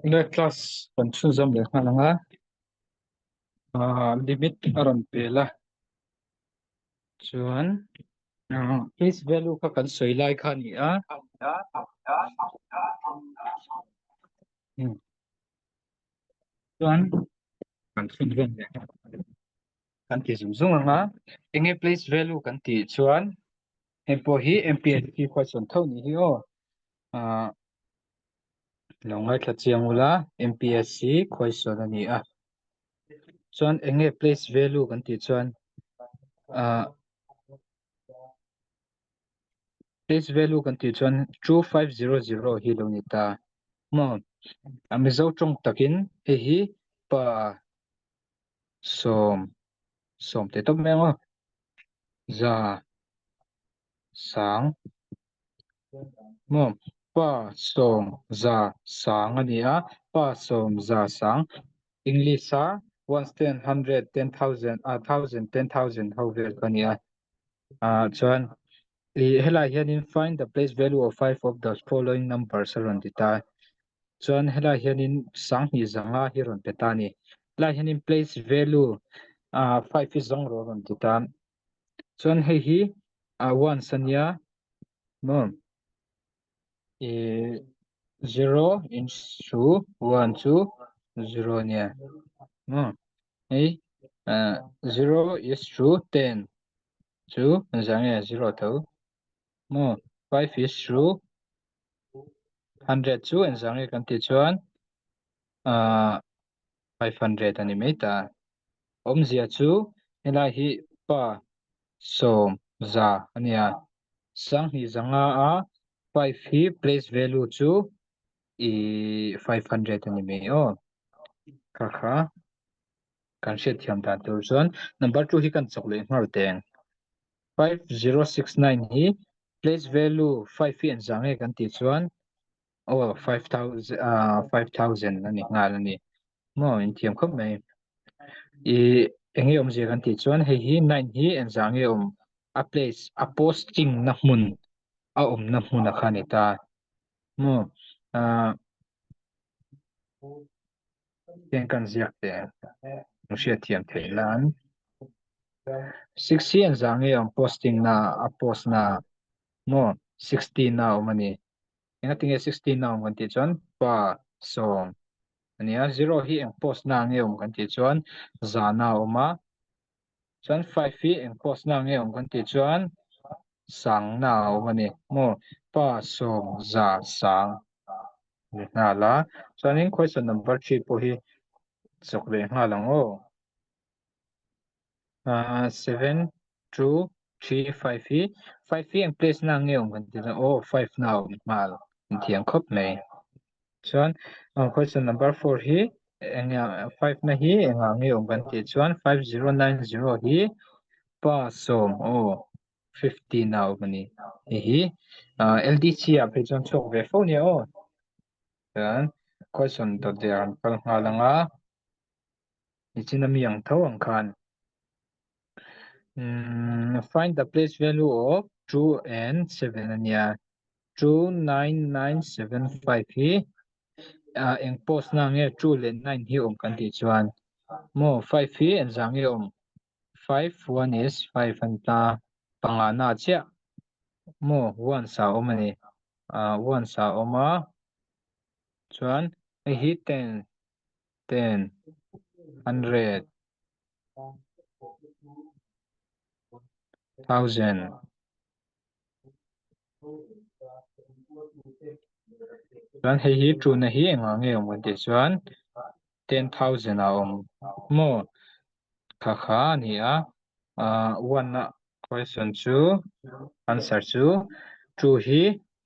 Nge class kan chhun zam leh nghal anga limit a rawn pel a chuan is value kha kan sawi lai kha ni a chuan kan chhun zam leh kan ti zum zung anga enge place value kan ti chuan Heng pawh hi MPHP khuachuan tho ni hi aw. Ah, lo ngaithla chiang ula MPSC khuaisuan a ni a. Chuan enge place value kan tih chuan ah, place value kan tih chuan 2500 hi lo ni ta. Maw, a Mizo tawng takin hei hi pa Sawm, sawm teh tawp mai a ngaw. Za, sang, ngaw. Pa sawm za sang a ni a, pa sawm za sang. English a one stand hundred ten thousand a thousand ten thousand ho vel kha a ni a. Ahh chuan ih helai hianin find the place value of five of the following numbers a rawn ti ta. chuan helai hianin sang hnih zanga hi rawn pe ta a ni helai hianin place value ah five hi zawng rawh a rawn ti ta chuan hei hi ah ones a nia maw ih zero in chu one chu zero a nia maw hei ah zero is chu ten chu zah nge zero tho. Maw? Five is to hundred chu en zah nge kan tih chuan ah five hundred a ni mai ta. Awmzia chu helai hi pa sawm za a ni a. Sanghnih za nga a five hi place value chu ih five hundred a ni mai aw. Kha kha kan hriat thiam dan tur chuan number two hi kan chawk leh nghal teng. Five zero six nine hi place value five hi an zah nge kan tih chuan oh five thousand ah five thousand ani nghal ani maw in thiam khawp mai i eng nge awm zia kan tih chuan hei hi nine hi an zah nge awm a place a posting na hmun a awmna hmuna kha a ni ta maw ah Heng kan ziak te nu hriat thiam theih nan sixty an zang e awm posting na a post na maw sixty na awm ani enga tinge sixty na awm kan tih chuan pa sawm ania zero hi eng post na nge awm kan tih chuan zana awm a Chuan five hi eng post na nge awm kan tih chuan sangna a awm a ni maw pa sawmza sang a ni nghal a chuanin question number three pawh hi chawk leh nghal ang aw aaa seven two three five hi five hi eng place na nge awm kan tih chuan aw five na a awm nghal inthiam khawp mai. chuan aw question number four hi eng nge a five na hi engah nge awm kan tih chuan five zero nine zero hi pa sawm aw fifteen a awm a ni hei hi ah ldc ah phei chuan chhuak ve fo nia aw chuan question tawt ve ang kal nghal ang a. nichin a mi ang tho ang khan um find the place value of two and seven ania two nine nine seven five hi uh, eng post na nge two le nine hi om kan ti chuan mo five hi en zang nge om five one is five an ta panga na chia mo one sa om ani uh, one sa oma chuan hi ten ten hundred thousand chuan hei hi tuna hi engah nge awm kan tih chuan ten thousand a awm maw kha kha a ni a ahh one a question chu answer chu two hi.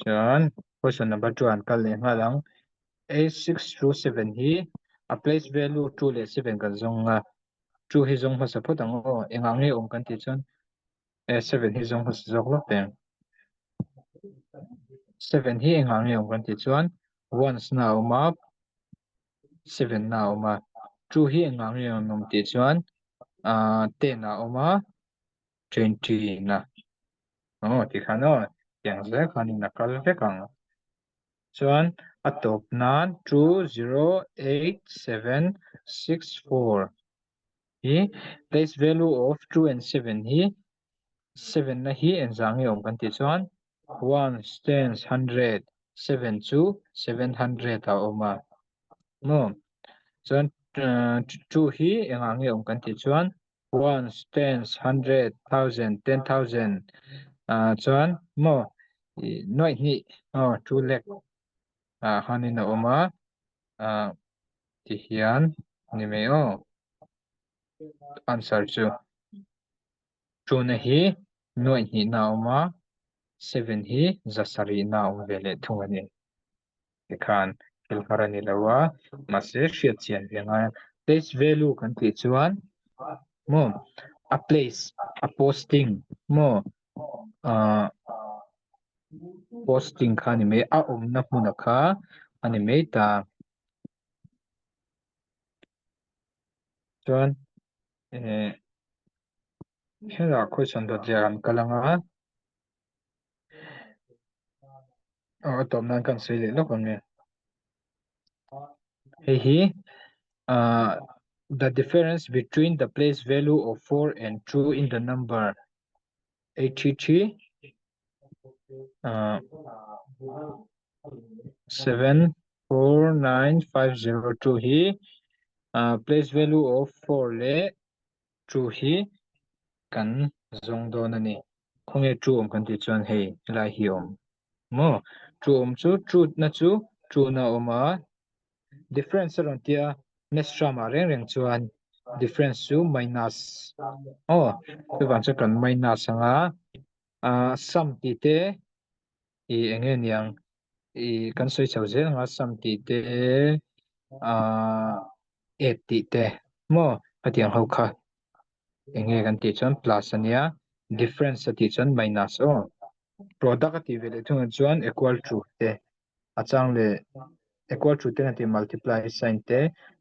Chuan question number two an kal leh nghal ang a six chu seven hi a place value two leh seven kan zawng anga two hi zawng hmasa phawt ang aw engah nge awm kan tih chuan a seven hi zawng hmasa zawk lawk teh ang seven hi engah nge awm kan tih chuan ones na awm a seven na awm a two hi engah nge awm tih chuan ten a awm a Change-ina aw ti khan aw tiang zel khanin a kal vek ang. Chuan a tawp nan two zero eight seven six four hi place value of two and seven hi seven na hi enzah nge awm kan tih chuan ones tens hundred seven chu seven hundred ah a awm a maw chuan two hi engah nge awm kan tih chuan ones, tens, hundred, thousand, ten thousand ah chuan maw nuaih hnih aw two lakh ah khanin a awm a ah ti hian a ni mai aw answer chu tuna hi nuaih hnihna a awm a seven hi zasarihna a awm ve leh thung a ni. te khan thil nghar a ni lo a mahse hriatchian ve ngai a place value kan tih chuan maw a place a posting maw ah posting kha ni mai a awmna hmuna kha a ni mai ta chuan eh khela khawihchhan dawt leh a rawn kal ang a. Aw a tawp nan kan sawi leh lawk ang e hei hi ahh the difference between the place value of four and two in the number eight three three ahh seven four nine five zero two hi ahh place value of four leh two hi kan zawng dawn a ni. Khawnge ṭu awm kan tih chuan hei helai hi awm maw? Ṭu awm chu ṭutna chu ṭuna awm a, difference a rawn tia messram ah reng reng chuan difference chu minus aw chuvang chu kan minus anga ahh sum tih te i eng nge niang i kan sawi chho zel ang a sam tih te aaa at tih te maw hetiang ho kha eng nge kan tih chuan plus a nia difference a tih chuan minus aw product a tih ve leh thung ah chuan equal to te a chang leh equal to te ngati multiply sign te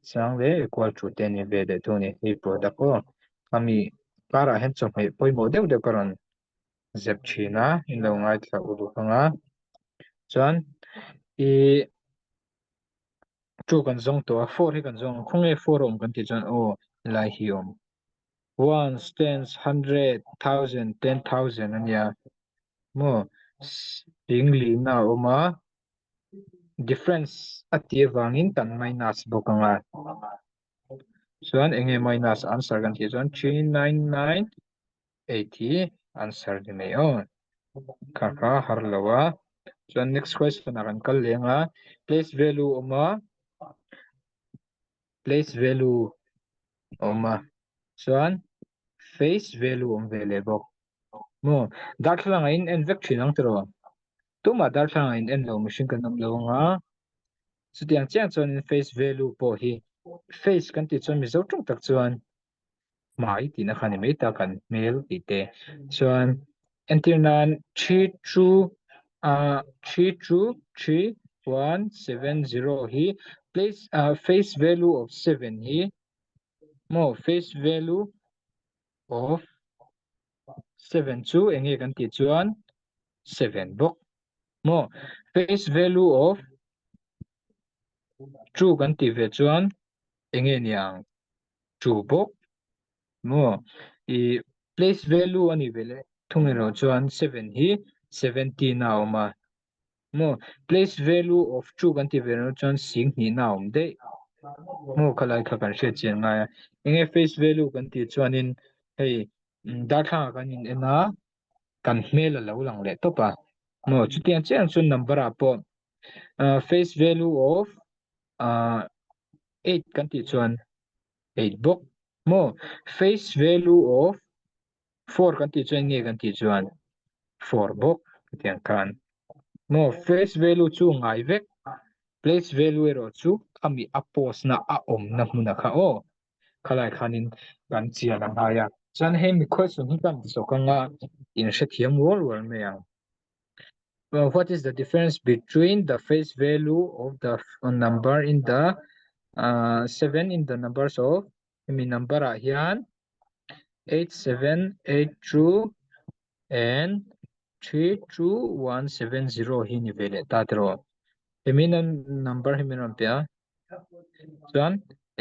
chang leh equal to te nih ve leh thung a ni hei product aw ami karah hian chawhmeh pawimawh deuh deuh ka rawn zep thin a in lo ngaithla u duh hmang a chuan i chu kan zawng tawh a four hi kan zawng ang khawnge four a awm kan tih chuan aw helai hi a awm ones tens hundred thousand ten thousand a nia maw eng lihna a awm a difference a ti avangin kan minus bawk ang a chuan eng nge minus answer kan tih chuan three nine nine Eight hi answer ni mai aw kha kha har lo a chuan next question ah kan kal leh anga place value a awm a place value a awm a chuan face value a awm ve leh bawk maw darthlalang a in en vek thin ang tiraw tumah darthlalang a in en lo mihring kan awm lo anga chutiang chiang chuan face value pawh hi face kan tih chuan mizo tawng tak chuan hmai tihna kha ni mai tak an hmel tih te chuan entir nan three two a three two three one seven zero hi place a face value of seven hi mo face value of seven chu eng nge kan ti chuan seven bawk mo face value of two kan ti ve chuan eng nge niang chu bawk maw i place value anih ve le thung erawh chuan seven hi seventeen a awm a maw place value of two kan tih ve loh chuan sing hnih na awm daih maw kha lai kha kan hriat chian ngai a eng nge face value kan tih chuanin hei darthlanga kan in en a kan hmel a lo lang leh tawp a maw chutiang chiang chuan number ah pawh face value of Ahh eight kan tih chuan eight bawk maw face value of four kan tih chuan nge kan tih chuan four bawk hetiang khan maw face value chu ngai vek place value erawh chu ami a post na a awmna hmuna kha aw khalai khanin kan chian angai a chuan hemi question hi kan ti sawk anga inhrethiam rual rual mai ang. uh, what is the difference between the face value of the number in the uh, 7 in the numbers of mi number ah hian 8782 and 32170 hi ni vele ta tero hemi number hemi ram pia chuan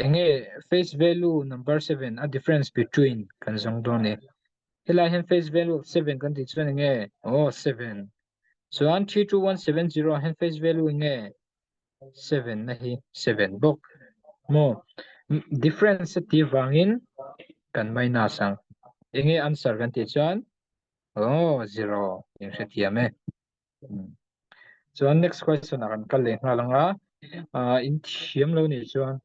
enge face value number 7 a difference between kan zong do ne helai hian face value of seven kan tih chuan nge oh seven chuan three two one seven zero ah hian face value nge seven na hi seven bawk mo difference a tir vangin kan minus ang enge answer kan tih chuan oh zero in hre thiam e chuan next question a kan kal leh nghal anga in thiam lo nih chuan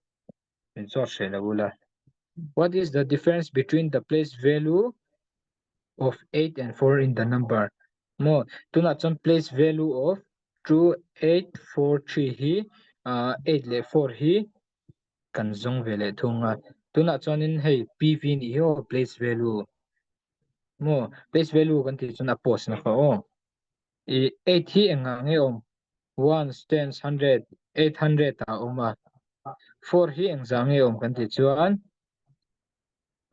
min chawt hreh lo ula. What is the difference between the place value of 8 and 4 in the number? Mo tuna chon place value of 2 8 4 3 hi uh, 8 le 4 hi kan zong ve le thunga tuna chon in hei pv ni ho place value mo place value kan ti chon a post na fa o I eight hi engah nge awm? Ones, tens, hundred, eight hundred ah a awm a. Four hi engzah nge awm kan tih chuan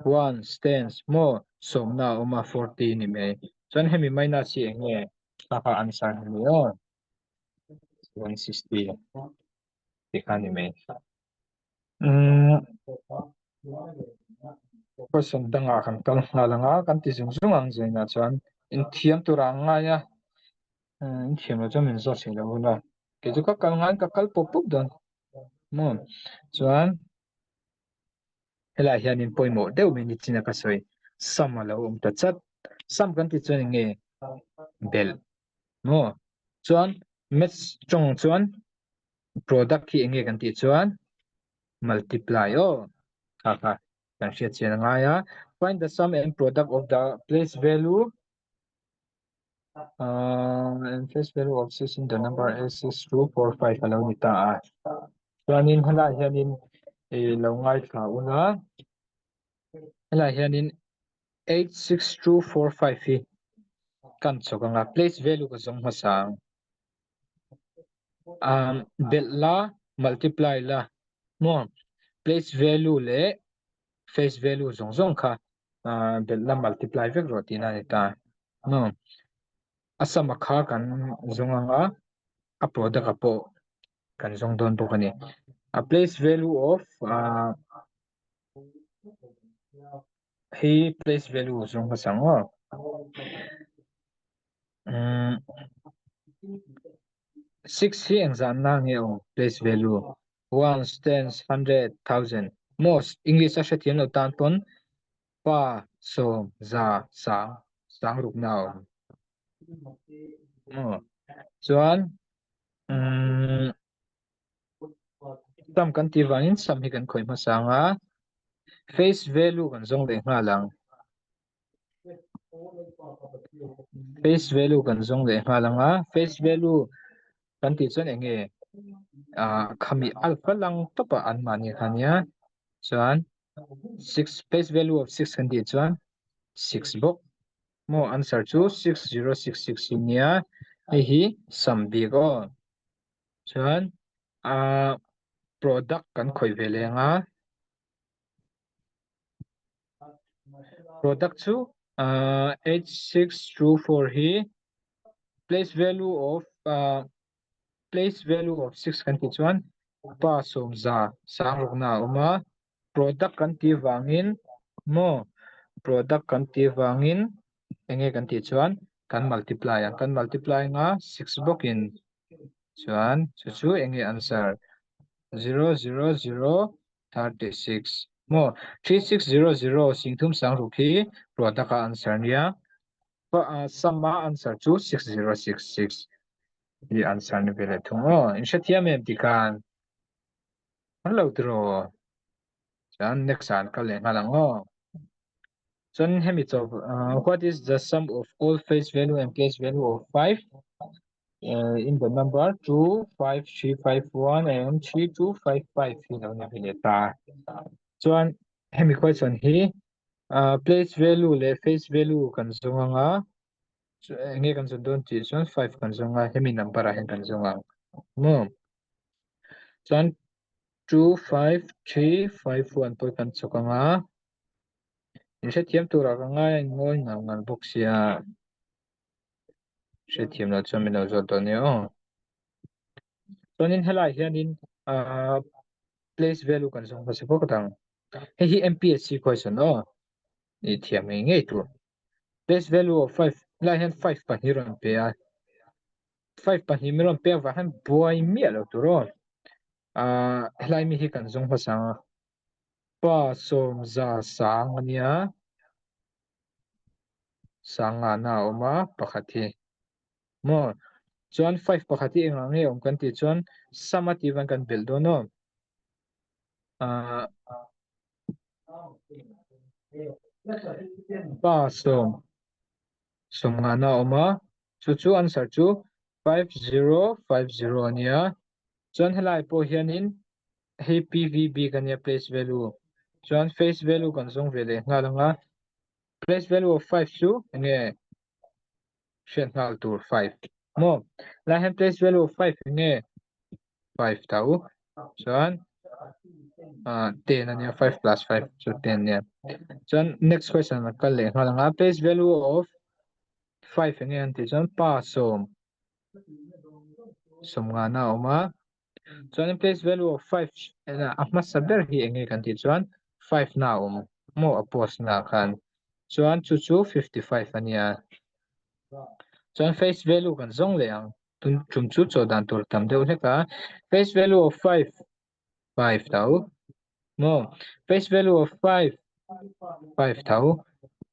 ones, tens, maw sawmna a awm a forty ni mai. Chuan hemi minus hi eng nge? Ka kha answer hi a ni a, one sixty tih kha a ni mai. Question danga kan kal nghal ang a kan ti zung zung ang zainah chuan inthiam tura ang ngai a inthiam lo chuan min zat si lo hun a kei chu ka kal ngai ka kal pup pup dawn maw chuan helai hianin pawimawh deuh mai ni china ka sawi sam a lo awm ta chat sam kan ti chuan enge belh maw chuan maths tawng chuan product hi enge kan tih chuan multiply aw kha kha kan hriat chian a ngai a find the sum and product of the place value uh, and place value of six in the number a six two four five alo ni ta a chuanin hala hianin e lo ngai thla una hala hianin eight six two four five hi kan chawk anga place value ka zawng hmasa ang um bel la multiply la mo place value le face value zawng zawng kha ah bel la multiply vek rawh tihna a ni ta mo a sum a kha kan zawng ang a a product a pawh kan zawng dawn bawk a ni a place value of ah Hi place value chu ka chang a umm six hi eng zan na nge aw place value ones tens hundred thousand most english a hre thiam lo tan pawn pa sawm za sang sang ruk na awm aw chuan umm Tam kan tih vangin sam hi kan khawih hmasa ang a, face value kan zawng leh nghal ang, face value kan zawng leh nghal ang a, face value kan tih chuan eng nge ah khami alpha lang tawpa an mahni kha nia chuan six face value of six kan tih chuan six bawk maw answer chu six zero six six hi nia hei hi sam bik aw. Chuan ah product kan khawih ve leng a product chu ah eight six two four hi place value of ah place value of six kan tih chuan pa sawmza sang rawkna a awm a. Product kan tih vangin maw product kan tih vangin enge kan tih chuan kan multiply ang kan multiply anga six bawkin chuan chu chu enge answer zero zero zero thirty six maw three six zero zero sing thum sang ruk hi product a answer a nia sum a answer chu six zero six six hi answer ni ve leh thung aw in hrethiam em tikhan. Hello tiro chan next san ka le nga lang ho chun hemi chaw uh, what is the sum of all face value and place value of 5 uh, in the number 2 5 3 5 1 and 3 2 5 5 hi lo na hi le ta chuan hemi question hi uh, place value le face value kan zung anga nge kan zung don ti chuan 5 kan zung a hemi number a hen kan zung ang mo chuan two five three five four an pawi kan chawk ang a in hrethiam tur ah ka ngaia in ngawi nghal nghal bawk sia hrethiam lo chuan min lo zawt dawn nia aw chuanin helai hianin ah place value kan zawng hmasa bawk a dang hei hi MPSC question aw ni thiam ngei ngei tur. base value of five lai hian five pahnih rawn pe a five pahnih min rawn pek vah hian buai miah lo tur aw ah helai mi hi kan zung hmasa a pa sawm za sang ania sang ngahna a awm a pakhat hi maw? Chuan five pakhat hi engah nge awm kan tih chuan sum a tih van kan belh dawn aw. Ahh pa sawm sawm nghahna a awm a chu chu answer chu five zero five zero a nia chuan helai pawh hianin hei pvb ka nia place value chuan face value kan zawng ve leh nghal anga place value of five chu enge hriat nghal tur five maw lai hian place value of five hi nge five ta u chuan ah ten ania five plus five chu ten nia chuan next question ah kal leh nghal anga place value of five hi nge an tih chuan pa sawm sawm nghana a awm a chuanin place value of five ah a hmasa ber hi eng nge kan tih chuan five na awm maw a post na khan chuan chu chu fifty five a nia chuan face value kan zawng leh ang tin chung chu chawlh dan tur tam deuh hlek a face value of five five tau Maw? Face value of five, five tho,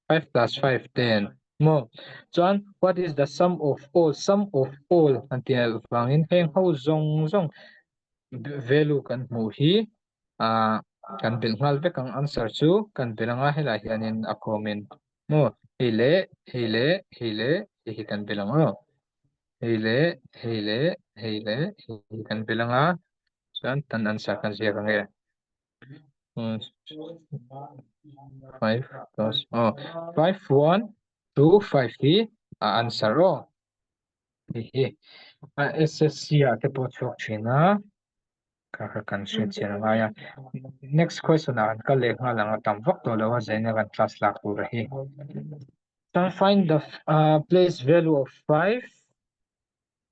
five plus five ten. Maw? Chuan what is the sum of all, sum of all kan tih loh vangin heng ho zawng zawng value kan hmuh hi ah kan belh nghal vek ang answer chu kan belh anga helah hianin a khawmin maw hei leh hei leh hei leh hei hi kan belh ang a. hei leh hei leh hei leh hei kan pe langa chuan tan an sa khan ziak ang e five plus oh five one two five hi a answer aw hei hi a ssc ah te pawh a chhuak thin a. Ka ka kan hriatchian a ngai a next question ah an kal leh nghal ang a tam vak tawh lo a zaina kan class lak tur a hi Can find the uh, place value of 5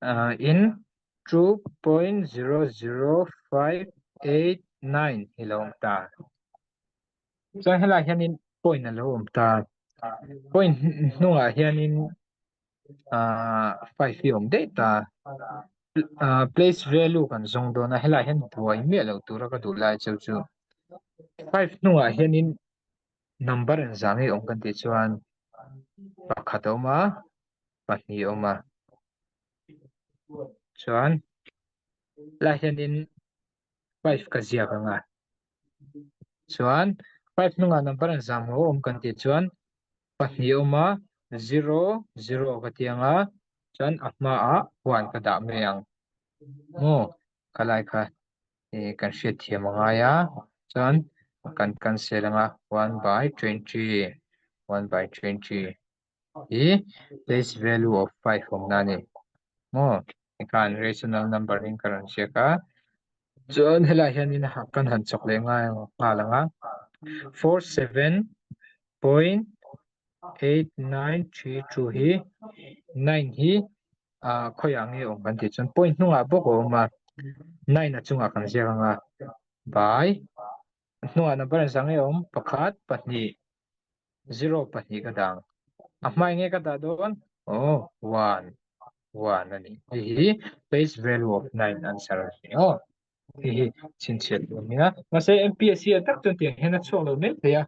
uh, in 2.00589 hi lo awm ta chuan helai hianin point a lo awm ta point hnungah hianin ahh five hi a awm daih ta ahh place value kan zawng dawn a helaiah hian buai miah loh tura ka duh lai cheu chu five hnungah hianin number an zah ngei awm kan tih chuan pakhat a awm a pahnih a awm a chuan helaiah hianin. five ka ziak anga chuan five hnungah number an zam ho awm kan tih chuan pahnih a awm a zero zero ka ti ang a chuan a hmaah one ka dah mai ang aw ka lai kha eh kan hriatthiam a ngai a chuan kan cancel anga one by twenty one by twenty. hi place value of five awm na ni maw tikhan rational number in ka rawn chek a chuan helai hian in kan han chawk leh nghal nghal ang a four seven point eight nine three two hi nine hi ah khawi ang nge awm kan tih chuan point hnungah bawk a awm a nine a chungah kan ziak ang a by hnungah number an sak nge awm pakhat pahnih zero pahnih ka dang a hma enge ka dah dawn aw one one a ni hei hi base value of nine answer a ni aw hei hi chhinchhiat tur a ni a mahse MPSC ah tak chuan tiang hian a chhuak lo mek thei a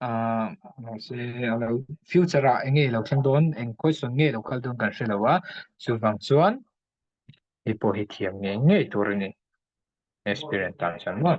ah mahse a lo future ah enge lo thleng dawn eng question nge lo kal dawn kan hre lo a chu vang chuan hei pawh hi thiam ngei ngei tur a ni experience tan chuan maw.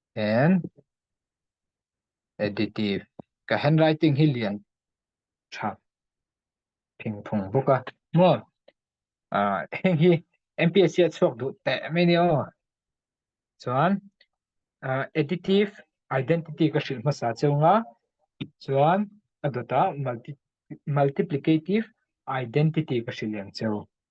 then additive ka handwriting hi lian tha thing thung bawk a maw ah heng hi MPSC a chhuak duh teh mai ni aw chuan ah, additive identity ka hrilh hmasa chunga chuan a dawta multi multiplicative identity ka hrilh liam cheu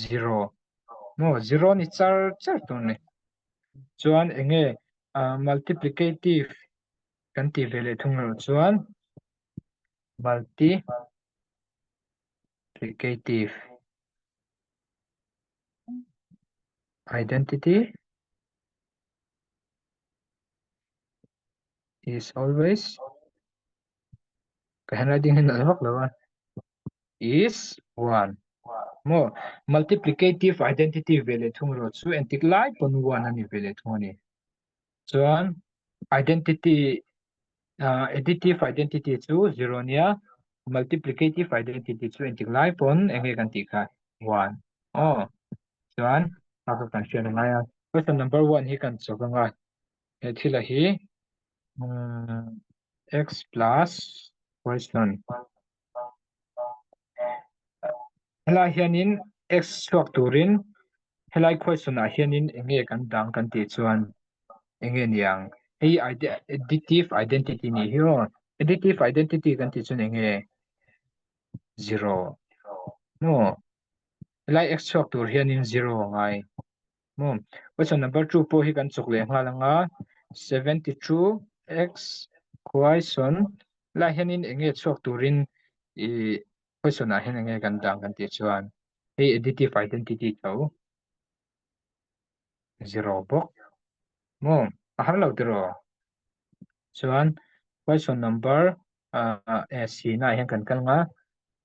zero maw zero a ni char char tur ni chuan eng nge ah multiplicative kan tih ve leh thung erawh chuan multi plicative identity is always Ka handwriting hi nalh vak lo a. Is one. Mo multiplicative identity ve leh thung rawh chu entik lai pawn one a ni ve leh thung a ni. Chuan identity uh, additive identity chu zero nia multiplicative identity chu entik lai pawn enge kan tih kha one. Oh. Chuan a ka kan hriat a ngai a. Question number one hi kan chawk anga he thil a hi x plus question helai hianin x chhuak turin helai question ah hianin enge kan dang kan tih chuan enge niang hei additive identity ni hi aw additive identity kan tih chuan enge zero no helai x chhuak tur hianin zero ngai Maw? Question number two pawh hi kan chawk leh nghal ang a, seventy two x khuaisawn lai hianin eng nge chhuak turin ih question ah hian eng nge kan dan kan tih chuan hei additive identity tho zero bawk maw a har lo tiraw chuan question number ah eh sina ah hian kan kal ang a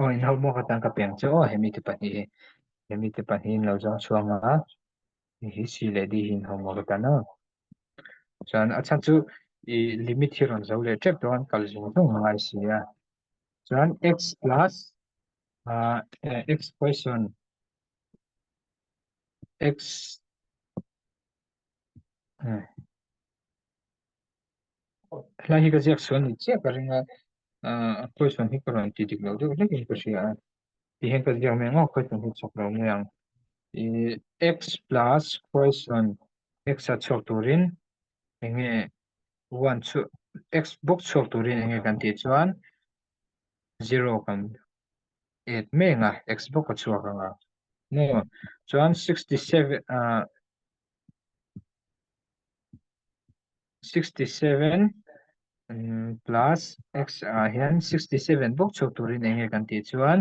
Aw inho maw ka tan ka peng che aw hemi te pahnih hi hemi te pahnih in lo zawng chhuang a hei hi si leh di hi inho maw ka tan a chuan a chhan chu ih limit hi rawn zo leh tep dawn kal zawng zawng anga i si a chuan x plus ah eh x poison x Helai hi ka ziak sual ni chiah ka ring a, a question hi ka rawn ti dik loh deuh hlek in ka hria a, ti hian ka ziak mai ngawk question hi chhawk lo mai ang. I x plus question x a chhuak turin enge one chu x bawk chhuak turin enge kan tih chuan zero kan add meng a x bawk a chhuak ang a mu a chuan sixty seven ah sixty seven um plus x ah hian sixty seven bawk chhuak turin eng nge kan tih chuan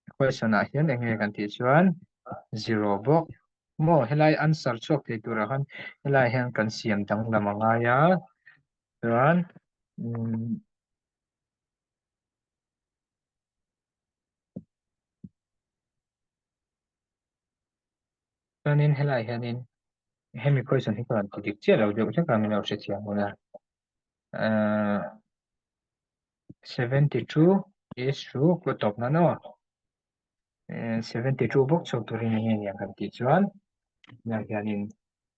equation ah hian eng nge kan tih chuan zero bawk mu a helai answer chhuak thei tur ah khan helai ah hian kan siam danglam a ngai a chuan um Chuanin helaiah hianin hemi question hi chuan dik chiah lo deuh hlek a min lo hriathiam hun a ahh seventy two is chu ka tawp nana aw seventy two bawk chhuak turin enge nia kan tih chuan tunah hianin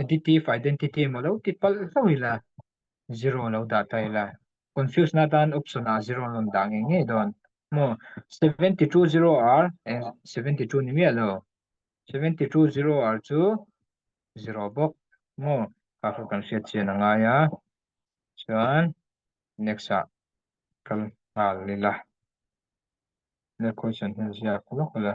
Additive identity emaw lo ti palh hlauh ila zero lo dah ta ila confuse na tan option ah zero an rawn dah ngei ngei dawn maw seventy two zero r eng seventy two ni miah lo seventy two zero r chu zero bawk maw ka kha kan hriat chian a ngai a chuan next ah kan nghal ila next question hian ziak lawk ila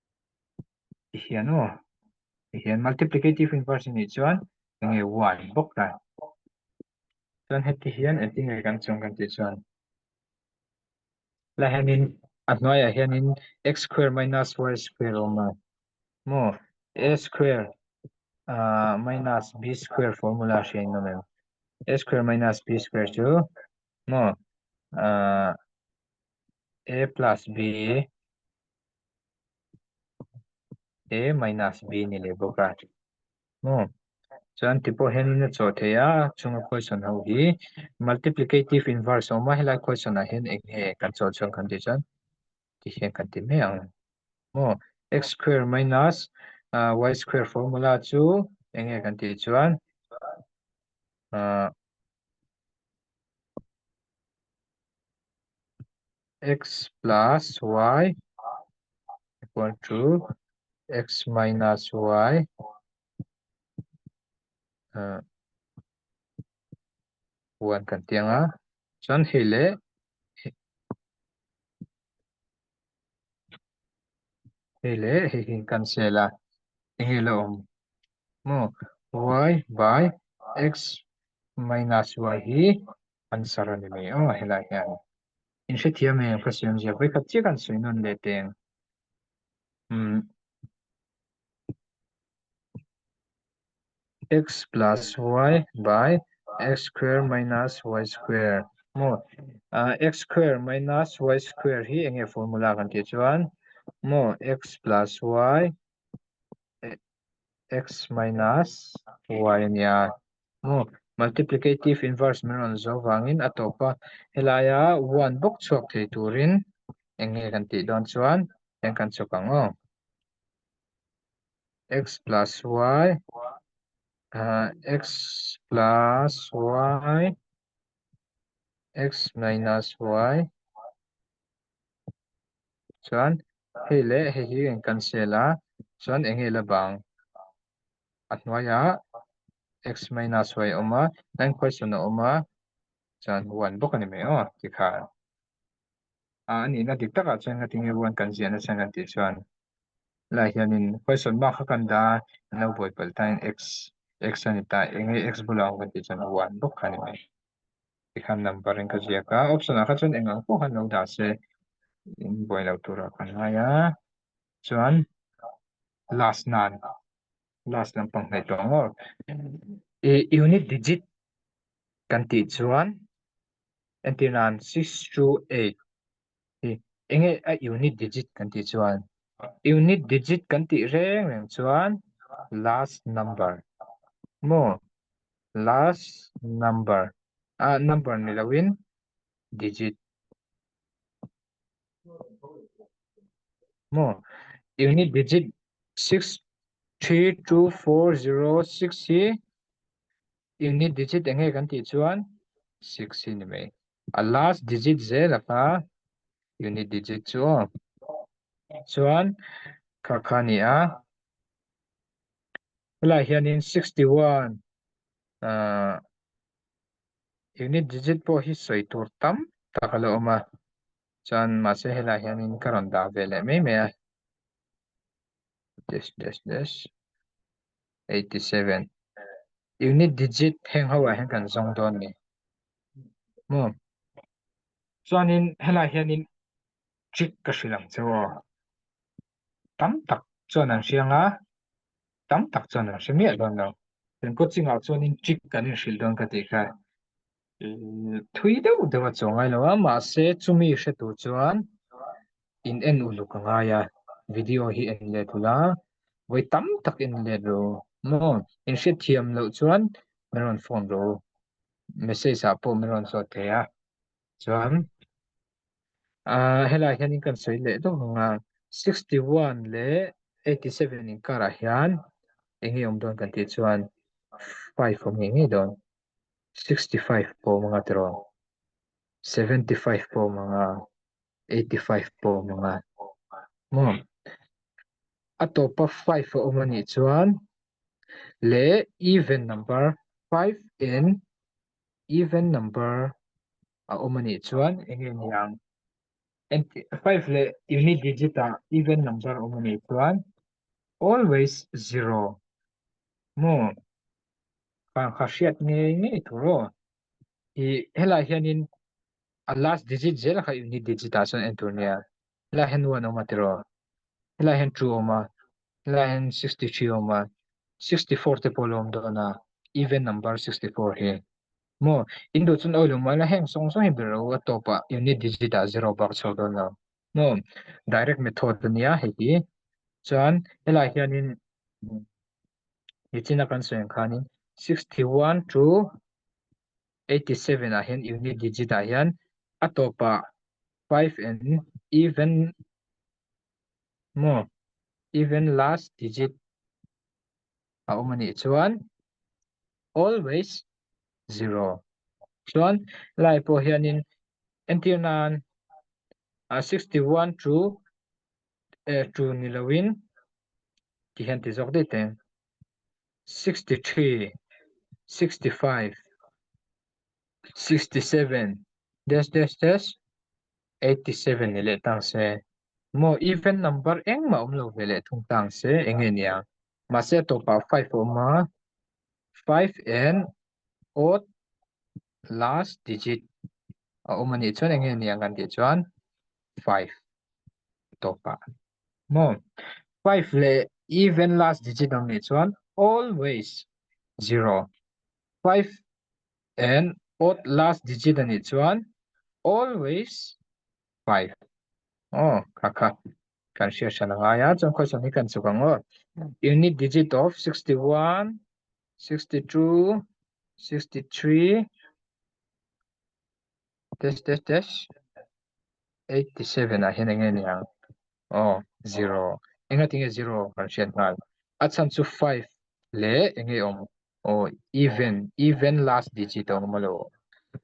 hian aw hian multiplicative inverse ni chuan eng nge one bawk ta chuan heti hian eti nge kan chung kan ti chuan la hianin a hnuaiah hianin x square minus y square awm lo mo a square uh, minus b square formula hriain lo mem a square minus b square chu mo uh, a plus b he minus b ni leh bawk a maw chuan ti pawh hian in a chawh thei a chunga question ho hi multiplicative inverse a awm a helai question ah hian eng nge kan chawh chhuan kan tih chuan ti hian kan ti mai ang maw x square minus ah y square formula chu eng nge kan tih chuan ah x plus y equal to x minus y ah one kan tih ang a, chuan hei leh hei leh hei hi an cancel a, eng nge la awm maw y by x minus y hi answer a ni mai aw a helai hian in hrethiam e question zia hawi khat chiah an sawi nawn leh teng umm x plus y by x square minus y square maw ah x square minus y square hi enge formula kan tih chuan maw x plus y x minus y a nia aw multiplicative inverse min rawn zo vangin a tawpa helaia one bawk chhuak thei turin eng nge kan tih dawn chuan heng kan chawp ang aw x plus y ah x plus y x minus y. chuan hei leh hei hi eng kan sel a chuan eng nge la vang a hnuai a x maina sawi a awm a nine question a awm a chuan one bawk a ni mai aw ti kha a ni na dik tak ah chuan ngati nge one kan ziah nasa kan tih chuan lah hian in question mark kha kan dah a lo buai palh ta in x x a ni ta eng nge x bula awm kan tih chuan one bawk kha a ni mai. Tikhan number in ka ziak a, option ah kha chuan eng ang pawh kha an lo dah se, in buai lo tur ah ka hnai a, chuan last nan last lampang hnaih tawh ang aw, ih unit digit kan tih chuan entirnan six two eight Ih, enge a unit digit kan tih chuan? Unit digit kan tih reng reng chuan last number maw? Last number, a number ni loin digit maw? Unit digit six three two four zero six hi unit digit enge kan tih chuan six hi ni mai. a last digit zel a kha unit digit chu aw chuan kha kha a ni a helaiah hianin sixty one ah unit digit pawh hi sawi tur tam tak a lo awm a chuan mahse helaiah hianin ka rawn dah ve leh mai mai a dash dash dash. eighty seven unit digit heng ho ah hian kan zawng dawn ni mu chuanin helai hianin trick ka hrilh ang che aw tam tak chuan an hriang a tam tak chuan an hre miah dawn lo kan coaching ah chuanin trick kan inhrilh dawn ka tih kha thui deuh deuh a chuang ngai lo a mahse chumi hre tur chuan in en uluk ka ngai a video hi en let hul a vawi tam tak in let ru maw in hrethiam loh chuan min rawn phone ru message ah pawh min rawn chhuah thei a chuan ah helai hian in kan sawi leh deuh ang a sixty one leh eighty seven in karah hian eng nge awm dawn kan tih chuan five awm nge ngei dawn. sixty five pawh awm anga tiraw seventy five pawh awm anga eighty five pawh awm anga maw a tawpa five a awm anih chuan leh even number five in even number a awm anih chuan eng nge ni ang engti five leh uni digit ah even number a awm anih chuan always zero maw Kan kha hriat ngei ngei tur aw. I helai hianin a last digit zel kha unit digit a chuan en tur nia. Helai hian one awm a tiraw. Helai hian two awm a. Helai hian sixty three awm a. Sixty four te pawh lo awm dawn a. Even number sixty four hi. Maw? In duh chuan awi lo mai la heng sawng sawng hi ber lo a top ah unit digit ah zero bak chho dawn lo. Maw? Direct method a nia hei hi. Chuan helai hianin Nitin a kan sawi ang khanin sixty one to eighty seven ah hian unit digit ah hian a tawpah five and even maw even last digit a awm anih chuan always zero chuan lai pawh hianin entirnan sixty one to e ṭu ni lo in tih hian ti zawk daih ta hian sixty three sixty five sixty seven dash dash dash eighty seven ni leh tang se maw even number engmah awm lo ve leh thung tang se eng nge nia mahse a tawpah five a awm a five and odd last digit a awm a nih chuan enge ni ang kan tih chuan five a tawp a maw five leh even last digit ang nih chuan always zero five and odd last digit a nih chuan always five aw kha kha kan hriat hralh a ngai a chuan question hi kan chuk ang aw unit digit of sixty one sixty two sixty three dash dash dash eighty seven ah hian eng nge ni ang oh zero enga tinge zero kan hriat nghal a chhan chu five le enge awm oh even even last digit a awm a lo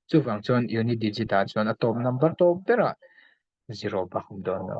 chuvang chuan unit digit ah chuan a top number tawp berah zero bak awm dawn lo.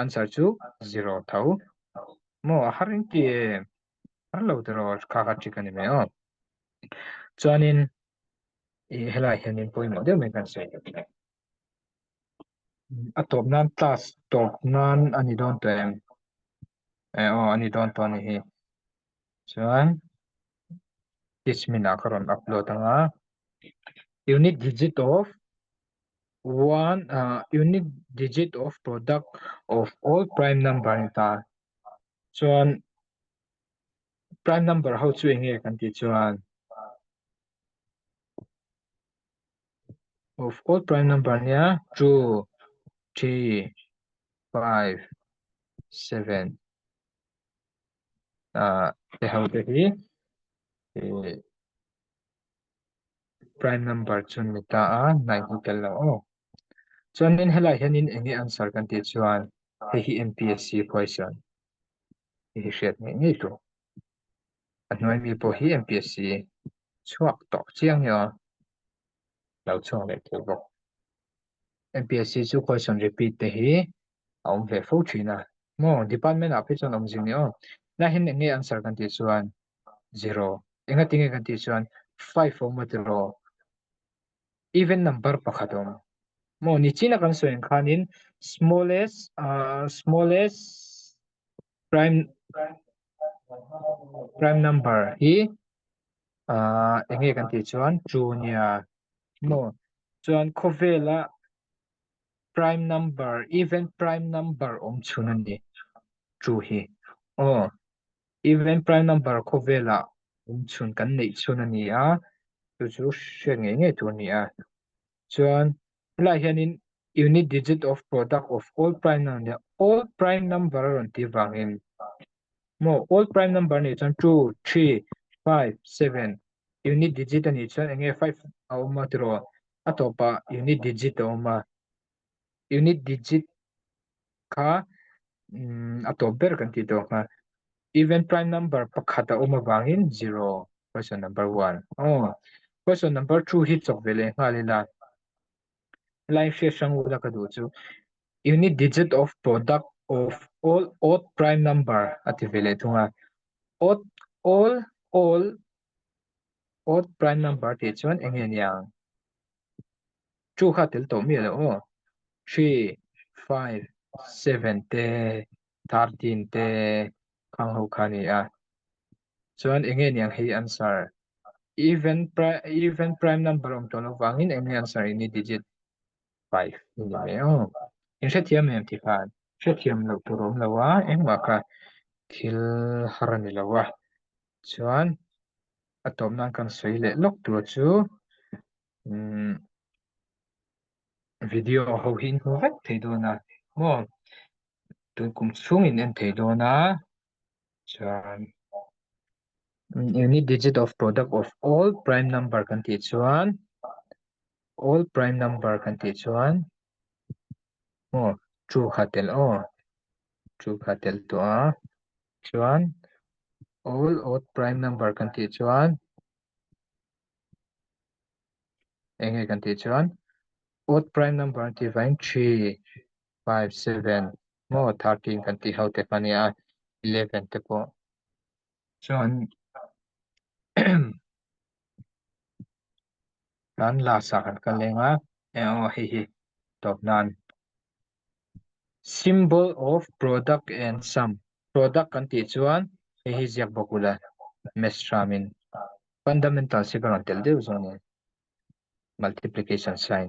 answer chu zero tho mo a har engti e har lo tero kha kha ṭhik a ni mai aw chuanin ih helai hianin pawimawh deuh mai kan sawi tawh thin a tawp nan class tawp nan a ni dawn tawh em e aw a ni dawn tawh a ni hi chuan teach me ah ka rawn upload anga unit digit of one ah unit digit of product of all prime number a ni ta chuan prime number ho chu enge kan tih chuan of all prime number nia two three five seven ah te ho te hi eh prime number chun ni ta a nine hi tel lo aw chuan in helai hian in enge answer kan tih chuan hei hi MPSC question hei hi hriat ngei ngei tlu a hnuai mi pawh hi MPSC chhuak tawh chiang ni awm lo chhuak leh tel bawk MPSC chu question repeat te hi a awm ve fo thin a. Maw, department-ah phi chuan awm zing ni aw. Naihin enge answer kan tih chuan, zero. Engati nge kan tih chuan, five a awm a tiraw. Even number pakhat a awm. Maw, ni china kan sawi ang khanin smallest, smallest prime, prime number hi enge kan tih chuan, two a nia. Maw, chuan khawvela Prime number, even prime number awm chhun a ni chu hi. Aw, even prime number khawvelah awm chhun kan neih chhun a ni a, chu chu hriat ngei ngei tur a ni a. Chuan helaiah hianin unit digit of product of all prime number a nia, all prime number a rawn tih vangin maw all prime number nih chuan two, three, five, seven unit digit a nih chuan eng nge five a awm a tiraw a tawpah unit digit a awm a unit digit kha umm a tawp ber kan tih tawh kha even prime number pakhat a awm avangin zero question number one aw question number two hi chawp ve leh nghal ila. Live hriat hrang u la ka duh chu unit digit of product of all odd prime number a ti ve leh thung a odd all all odd prime number tih chuan eng nge nia chu kha tel tawh mi lo aw three five seven te thirteen te khang ho kha ni a Chuan enge niang hi answer? Even even prime number awm tawh lo vangin enge answer ini digit five ni mai aw in hrethiam em ti khan hrethiam loh tur awm lo a engmah kha thil har a ni lo a chuan a tawp nan kan sawi leh lawk tur chu umm video ho hi in hmu vek thei dawn a maw tun kum chhungin en thei dawn a. chuan any digit of product of all prime number kan tih chuan all prime number kan tih chuan aw two kha tel aw two kha tel tawh a chuan all odd prime number kan tih chuan eng nge kan tih chuan odd prime number tih vang three five seven Maw thirteen kan tih ho teh mah nia eleven te pawh chuan tan last ah kan kal leng a e aw hei hi tawp nan symbol of product and sum product kan tih chuan hei hi ziak bawk ula mesram in fundamental si ka rawn tel deuh zawk a ni multiplication sign